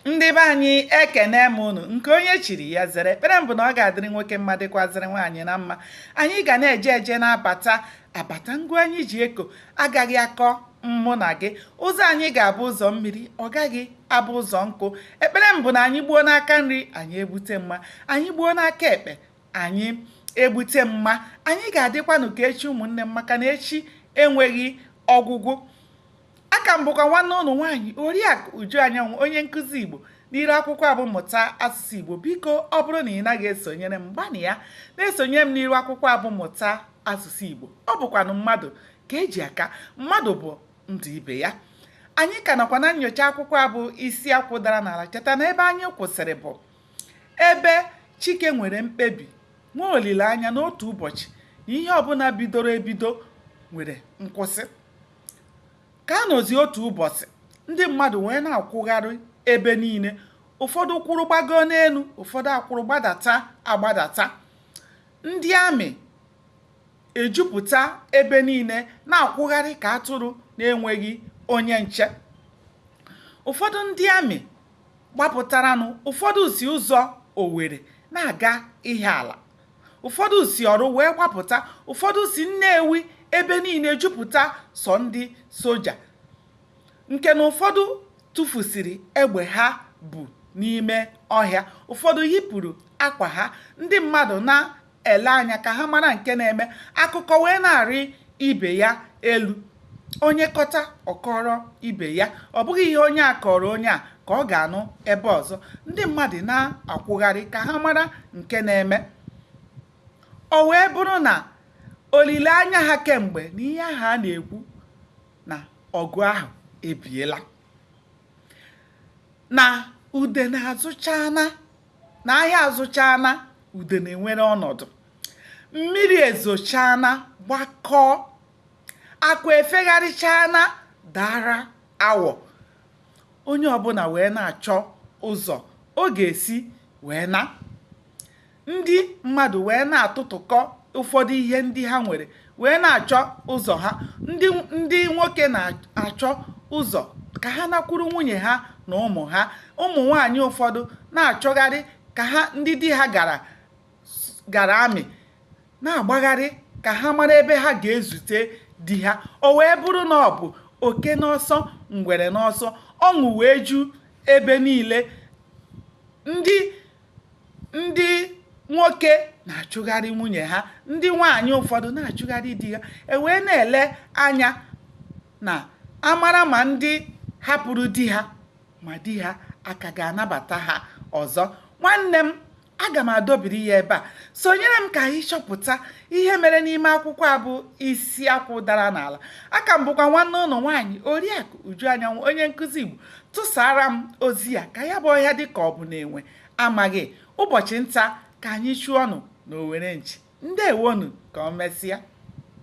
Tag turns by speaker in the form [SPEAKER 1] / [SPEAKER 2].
[SPEAKER 1] ndị be anyị ekene m unu nke onye chiri ya zere ekpere m bụ na ọ ga-adịrị nwoke mma dịkwazịrị nwaanyị na mma anyị ga na-eje eje na-abata abata ngwa anyị ji eko agaghị akọ mụ na gị ụzọ anyị ga-abụ ụzọ mmiri ọ gaghị abụ ụzọ nkụ ekpere m bụ na anyị gbuo n'aka nri anyị egbute mma anyị gbuo n'aka ekpe anyị egbute mma anyị ga-adịkwanụ ka echi ụmụnne m maka na echi enweghị ọgwụgwụ aka m bụkwa nwanne unu nwaanyị oriakụ uju anyanwụ onye nkụzi igbo n'iru akwụkwọ a bụ mmụta asụsụ igbo biko ọ bụrụ na ị naghị esonyere m gbanịa na-esonyere m n'iru akwụkwọ a bụ mmụta asụsụ igbo ọ bụkwanụ mmadụ ka e ji aka mmadụ bụ ndụ ibe ya anyị ka nọkwa na nyocha akwụkwọ a bụ isi akwụ dara n'ala cheta na ebe anyị kwụsịrị bụ ebe chike nwere mkpebi nwee olileanya na otu ụbọchị na ihe ọbụla bidoro ebido nwere nkwụsị ka a nọzi otu ụbọchị ndị mmadụ wee na-akwụgharị ebe niile ụfọdụ kwụrụ gbagoo n'elu ụfọdụ akwụrụ gbadata agbadata ndị amị ejupụta ebe niile na-akwụgharị ka atụrụ na-enweghị onye nche ụfọdụ ndị amị gbapụtaranụ ụfọdụ si ụzọ Owerri na-aga Ihiala ụfọdụ si Orlu wee gbapụta ụfọdụ si nnewi ebe niile jupụta sọ ndị soja nke na ụfọdụ tụfusiri egbe ha bu n'ime ọhịa ụfọdụ yipụrụ akwa ha ndị mmadụ na-ele anya ka ha mara nke na-eme akụkọ wee na-arị ibe ya elu onye kọta ọ kọọrọ ibe ya ọ bụghị ihe onye a kọrọ onye a ka ọ ga-anụ ebe ọzọ ndị mmadụ na-akwụgharị ka ha mara nke na-eme o wee bụrụ na olileanya ha kemgbe na ihe ahụ a na-ekwu na ọgụ ahụ ebiela na udene azụchaana na ahịa azụchaana udene ewere ọnọdụ mmiri ezochaana gbakọọ akụ efegharịchaana daara awọ onye ọbụla wee na-achọ ụzọ ọ ga-esi wee na ndị mmadụ wee na-atụtụkọ ụfọdụ ihe ndị ha nwere wee na-achọ ụzọ ha ndị nwoke na-achọ ụzọ ka ha nakwuru nwunye ha na ụmụ ha ụmụ nwanyị ụfọdụ na-achọgharị ka ha ndị di ha gara amị na-agbagharị ka ha mara ebe ha ga-ezute di ha o wee bụrụ na ọ bụ oke n'ọsọ ngwere n'ọsọ ọṅụ wee ju ebe niile ndị ndị nwoke na-achụgharị nwunye ha ndị nwaanyị ụfọdụ na-achụgharị di ha ewee na-ele anya na amara ma ndị hapụrụ di ha ma di ha a ka ga-anabata ha ọzọ nwanne m aga m adọbiri ya ebe a sonyere m ka anyị chọpụta ihe mere n'ime akwụkwọ a bụ isi akwụ dara n'ala aka m bụkwa nwanne unu nwaanyị oriakụ uju anyanwụ onye nkụzi igbo tụsara m ozi ya ka ya bụ ọhịa dị ka ọ bụ na enwe amaghị ụbọchị nta ka anyị chụọnụ na owere nchi ndewonu ka o mesịa